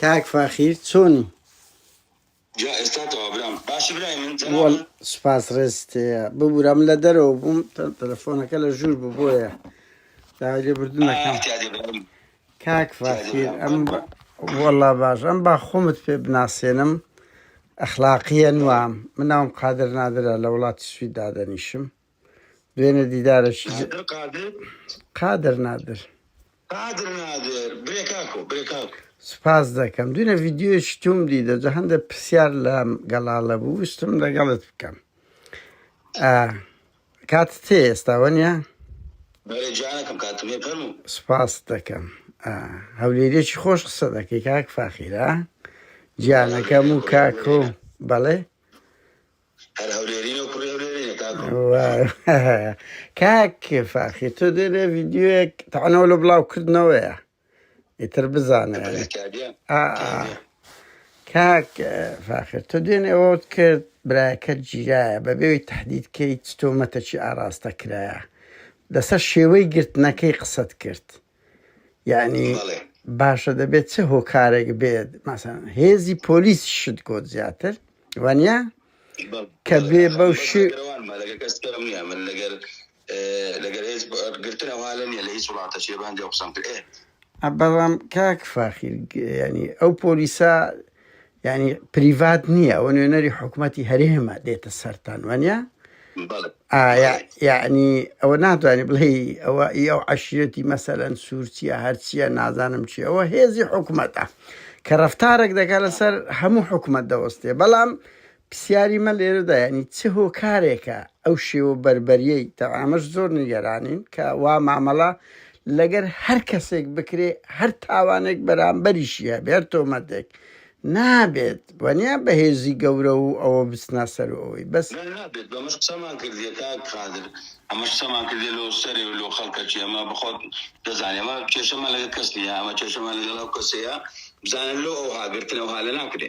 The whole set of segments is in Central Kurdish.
کاک فاخیر چۆنی سپاس ڕێست ببوورم لە دەرەوە بووم تەلەفۆنەکە لە ژوور ببووە داگە بردنەکەم کاک ڤاکیر ئەم وەڵا باش ئەم با خۆمت پێ بناسێنم ئەخلاقیە نوام من ناوم قادر نادرە لە وڵاتی سوید دادەنیشم دوێنێ دیدارەکی ج- قادر قادر قادر نادر قادر نادر برێ کاکۆ برێ کاکۆ سپاس دەکەم دوێنێ ڤیدیۆیەکی توم دیدە جە هەندە پرسیار لە گەڵاڵە بوو ویستم لەگەڵت بکەم ئا کاتت هەیە ئێستا وەنیە؟ بەرێ جانەکەم کاتم هەیە فەرموو. سپاست دەکەم ئا هەولێریەکی خۆش قسە دەکەی کاک فاخیر ئا گیانەکەم و کاک و بەڵێ هەر هەولێرینە و کوڕی هەولێرینە کاکۆ وای کاک فاخیر تۆ دێرێ ڤیدیۆیەک تەعنەوە لە بڵاو کردنەوەیە ئیتر بزانە یعنی ئا کاک فاخر تۆ دوێنێ ئەوەت کرد برایەکەت گیرایە بە بێوی تهدید کەی چ تۆمەتەکی ئاراستە کرایە لەسەر شێوەی گرتنەکەی قسەت کرد یعنی بەڵێ باشە دەبێت چه هۆکارێک بێت مەسەن هێزی پۆلیس شت گۆت زیاتر وانە بەڵ- کە بەڵێ بێ بەو ئەخوان بەس شێ لەگەرەوانمە لەگەر کەس کەم نییە من لەگەر لەگەر هێز گرتن ئەوها لە نیە لە هیچ وڵاتە چێ بە هەندێ قسەم کرد ئێ. بەڵام کاک فاخیر ینی ئەو پۆلیسا ینی پریڤات نییە ئەوە نوێنەری حکوومەتتی هەرێمە دێتە سەران وانە یعنی ئەوە ناتوانانی بڵێ ئەوە ئی ئەو عشرەتی مەسەەن سوورچیە هەرچیە نازانم چی ئەوە هێزی حکوومەتە کە ڕفتارێک دەکات لەسەر هەموو حکوومەت دەوەستێ بەڵام پرسیاری من لێرەدا یانی چ هۆکارێکە ئەو شێوە بەربەریەی تەوە ئەمەش زۆر نیگەرانین کە وا مامەڵە لەگەر هەر کەسێک بکرێ هەر تاوانێک بەرامبەریشی هەبێ هەر تۆمەتێک نابێت وەنیا بەهێزی گەورە و ئەوە بچنە سەر و ئەوەی بەس. نا نابێت بەمەش قسەمان کردیە کاک قادر ئەمەش قسەمان کردیە لۆ سەرێ و لۆ خەڵکەچی ئەمە بەخۆت دەزانی ئەمە کێشەمان لەگەر کەس نیە ئەمە کێشەمان لەگەڵ ئەو کەسەیە بزانە لۆ ئەوها گرتنەوها لە ناکرێ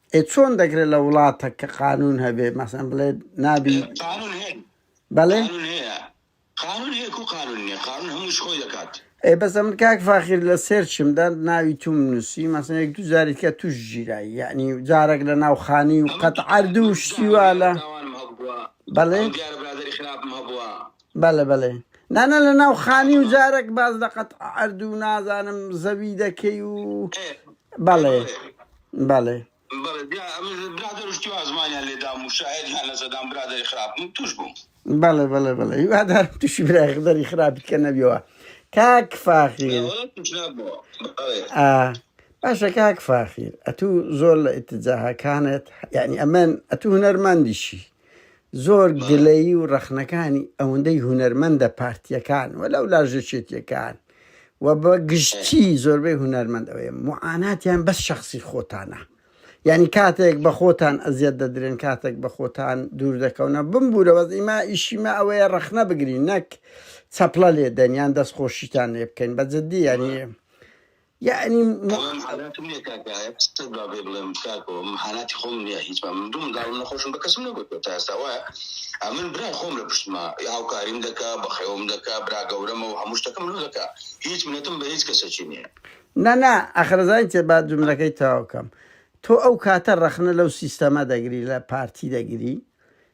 ئێ چۆن دەکرێت لە وڵاتەک کە قانون هەبێ مەسەن بڵێ نابی بەڵێ ئێ بەس ئەمن کاک فاخیر لە سێرچمدا ناوی توم نووسی مەسن یەک دو جاری کە توش ژیرایی یعنی جارێک لە ناوخانی و قەت عردو شتیوا لە بەڵێ بەلێ بەلێ نانا لە ناو خانی و جارەک باس لە قەت عەرد و نازانم زەوی دەکەی و بەڵێ بەڵێ بەڵێ بەڵێ بەڵێ هیوادارم تووشی برای خدەری خراپی کە نەبیەوە کاک فاخیر باشە کاک فاخیر ئەتوو زۆر لە ئتجاهەکانت یعنی ئەمن ئەتوو هەرماندیشی زۆر گلەیی و ڕەخنەکانی ئەوەندەی هونەرمەندە پارتییەکان و لەو لاژەچێتیەکان و بە گشتی زۆربەی هونەرمەند ئەوەیە معاناتیان بەس شخصی خۆتانە یعنی کاتێک بە خۆتان ئەزیەت دەدرێن کاتێک بە خۆتان دوور دەکەونە بمبوورەوە ئیما ئیشیمە ئەوەیە ڕەخنە بگرین نەک چەپڵە لێدەن یان دەستخۆشیتان لێ بکەین بە جددی یعنی یەعنی مو. بەڵام حالاتی منە کاک ئایە قسەت با بێ بڵێم کاکۆ من حالاتی خۆم نیە هیچ با من دوو منداڵم نەخۆشم بە کەسم نەگوتوە تا ئێستا وایە ئە من برای خۆم لە پشتما هاوکاریم دەکا بەخێوم دەکا برا گەورەمە و هەموو شتەکەم لۆ دەکا هیچ منەتم بە هیچ کەسەکی نیە نا نا ئەخرە زانین چێ با جملەکەی تەواو کەم تۆ ئەو کاتە ڕەخنە لەو سیستەمە دەگری لە پارتی دەگری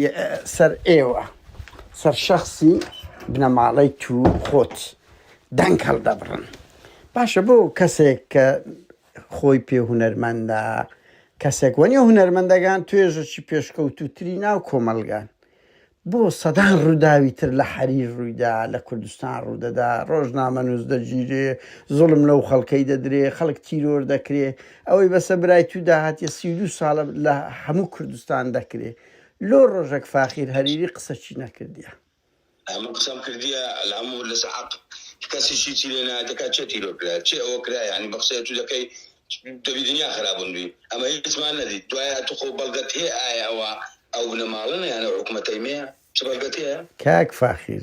ی سەر ئێوە سەر شەخسی بنەماڵەی تو خۆت دەنگ هەڵدەبڕن باشە بۆ کەسێک کە خۆی پێ هونەرمەندە کەسێک وەنی هونەرمەندەگان توێژەکی پێشکەوتوتری ناو کۆمەلگان بۆ سەدان ڕووداوی تر لە حەریر ڕوویدا لە کوردستان ڕوودەدا ڕۆژنامەنووس دەگیرێ زوڵم لەو خەڵکەی دەدرێ خەڵک تیرۆر دەکرێ ئەوەی بەسە برای تو داهاتیە سی و دوو سالە لە هەموو کوردستان دەکرێ لۆ رۆژەک فاخیر هەریری قسە چی نەکردیە. من قسەم کردیە الامور لەسە حەق کەسی شیتی لێ نایە دەکا چێ تیرۆر کرایە چێ ئەوە کرایە یانی بە قسەی ئەتو دەکەی دەبی دنیا خرابون بی ئەمە هیچمان نەدیت دوایە ئەتو خۆ بەلگەت هەیە ئایە ئەوە ئەو بنەمالەنە یانە حکومەتەی مەیە چ بەلگەت هەیە. کاک فاخیر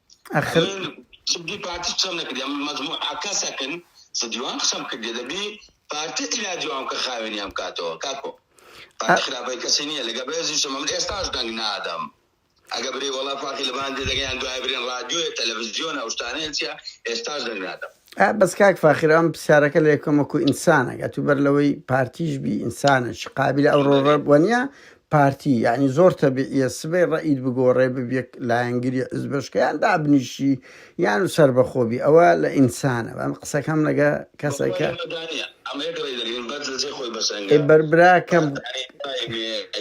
ئەخر جدی پارتی قسەم نەکردی ئەم مەجموعە کەسەکن سە دیوان قسەم کردی دەبی پارتی ئیلا دیوان کە خاوێنیان بکاتەوە کاکۆ پارتی خراپەی کەسی نییە لەگە بەێزیشم من ئێستاش دەنگ نادەم ئەگە بری وەڵا فاقی لەبان دەگەیان دوای برێن رادیۆیە تەلەڤزیۆن ئەوشتانەیە چیە ئێستاش دەنگ نادەم ئا بەس کاک فاخر ئەم پرسیارەکە لە یەکەم وەکو ئینسانە ئەتوو بەر لەوەی پارتیش بی ئینسانە چ قابل ئەوڕۆ ڕەب وەنیە پارتی یعنی زۆر تەبیعە سبەی ڕئید بگۆڕێ ببیەک لایەنگری ئزبشکیان دابنیشی یان و سربەخۆبی ئەوە لە ئینسانە ئەم قسەکەم لەگە کەسەکە ئەی بەربراکەم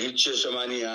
هیچ کێشەمانە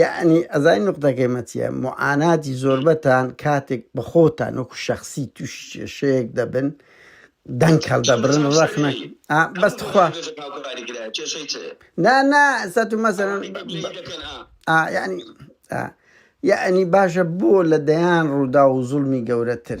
یەعنی ئەزانی نوقتەکەی مە چیە موعاناتی زۆربەتان کاتێک بە خۆتان وەکو شەخسی تووشی کێشەیەک دەبن دەنگ هەڵدەبرن ڕەخنە ئا بەس تخوا کێشە هاوکاری کرایە کێشەی چ نا نا سەتو مەسەرەن ئەوانەی کە پلەی دەکەن ئا ئا یعنی ئا یعنی باشە بۆ لە دەیان ڕوودا و زوڵمی گەورەتر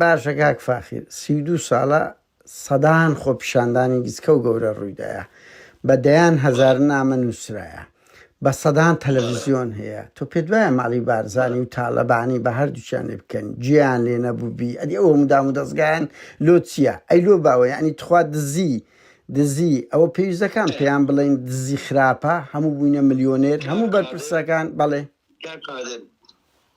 باشە کاک فاخیر سی و دوو ساڵە سەدان خۆپیشاندانی گچکە و گەورە ڕوویدایە بە دەیان هەزار نامە نووسرایە بە سەدان تەلەڤزیۆن هەیە تۆ پێت وایە ماڵی بارزانی و تاالەبانی بە هەردووچیان لێ بکەن جیان لێ نەبووبی ئەدی ئەوە مدام و دەستگایان لۆ چییە ئەی لۆ باوە یعنی تخوا دزی دزی ئەوە پێویست دەکان پێیان بڵێن دزی خراپە هەموو بووینە ملیۆنێر هەموو بەرپرسەکان بەڵێ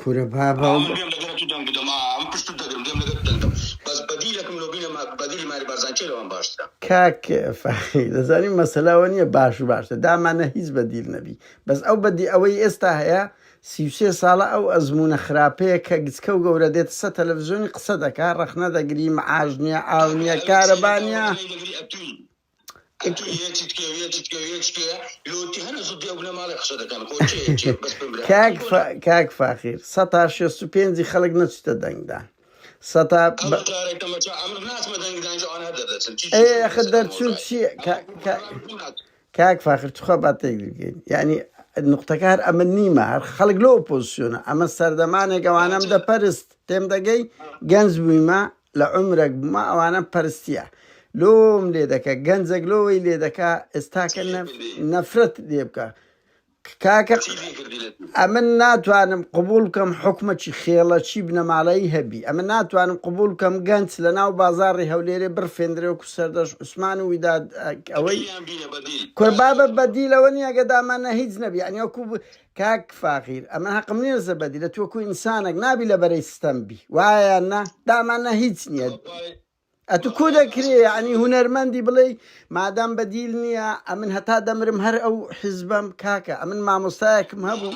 کورە بابە. من گوێم دەگرم تو دەنگ بدەم ئا من پشتت دەگرم گوێم دەگرت دەنگم بەس بەدیلەکم لۆ بینە مە بەدیلی ماری بارزان کێ لەوان باشترە. کاک فەخری دەزانی مەسەلە ئەوە نیە باش و باشتر دامانە هیچ بەدیل نەبی بەس ئەو بەدی ئەوەی ئێستا هەیە سی و سێ ساڵە ئەو ئەزمونە خراپەیە کە گچکە و گەورە دێتە سە تەلەفزیۆنی قسە دەکا ڕەخنە دەگری معاش نیە ئاو نیە کارەبا نیە کاک فاخیر سەتا شێست و پێنجی خەڵک نەچتە دەنگدان سەتا خە دەرچوون چی کاک فاخر توخوا با تێگرگەین یعنی نقطەکار ئەمە نیمە هەر خەڵک لۆ پۆزیسیۆنە ئەمە سەردەمانێک ئەوانم دەپەرست تێم دەگەی گەنج بوویمە لە عومرەک بما ئەوانەم پەرستیە لۆم لێ دەکە گەنجەک لۆ وەی لێ دەکا ئێستاکە نەفرەت لێ بکە کاکە ئەمن ناتوانم قبول بکەم حکومەکی خێڵەکی بنەماڵەی هەبی ئەمە ناتوانم قبول بکەم گەنج لە ناو بازاری هەولێرێ بڕفێندرێ و سەردەش عوسمان و ویداد ئەوەی کوربابە بەدیلەوە نیە گەدامانە هیچ نەبی ئەنیکو کاک فاخیر ئەمە هەقم نیە زەبەدی لە توەکو ئینسانەک نابی لە بەرەی ستەم بی وایە نە دامان نە هیچ نییە ئەتو کو دەکرێ ینی هوەرمەندی بڵێ مادام بەدیل نییە ئەمن هەتا دەمرم هەر ئەو حیزبم کاکە ئەمن مامۆستایەکم هەبوو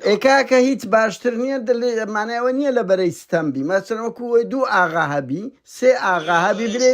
ئێکاکە هیچ باشتر نییە دەمانەوە نییە لە بەرەی ستەم بی مەسەرەکو وەی دوو ئاغا هەبی سێ ئاغا هەبی برێ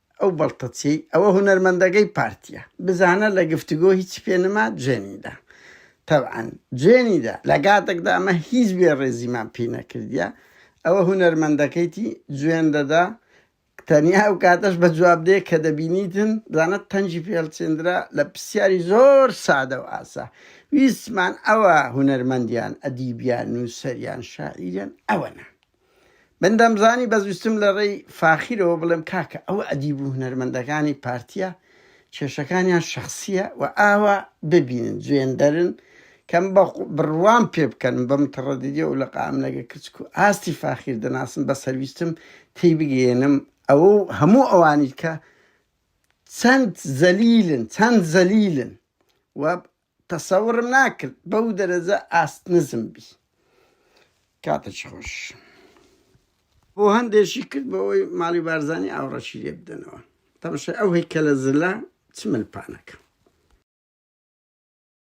ئەو بەڵتەچیەی ئەوە هونەرمەندەگەی پارتیە بزانە لە گفتگۆ هیچی پێ نما جوێنیدا تەبعەن جوێنیدا لە گاتەکدا ئەمە هیچ بێ ڕێزیمان پی نەکردیە ئەوە هونەرمەندەکەیتی جوێن دەدا تەنیا ئەو کاتەش بە جواب دێ کە دەبینیتن بزانە تەنجی پێڵچێندرا لە پرسیاری زۆر سادە و ئاسا ویستمان ئەوە هونەرمەندیان ئەدیبیان نووسەریان شاعیریان ئەوەنە من دەمزانی بەزویستم لەڕێی فاخیرەوە بڵێم کاکە ئەوە ئەدیب و هونەرمەندەکانی پارتیە کێشەکانیان شەخسیە و ئاوا ببینن جوێندەرن کەم بە بڕوام پێ بکەن بەم تڕەدیدی و لە قام لەگە کچک و ئاستی فاخیر دەناسم بە سەرویستم تێی بگەێنم ئەوە هەموو ئەوانی کە چەند زەلیلن چەند زەلیلن و تەسەوڕم ناکرد بەو دەرەجە ئاست نزم بی کاتەکی خۆش. بۆ هەندێکی کرد بۆ ئەوەی ماڵی بارزانی ئاوڕەکی لێ بدەنەوە تەمەشای ئەو هەیکەلە زلە چ مل پانەکە.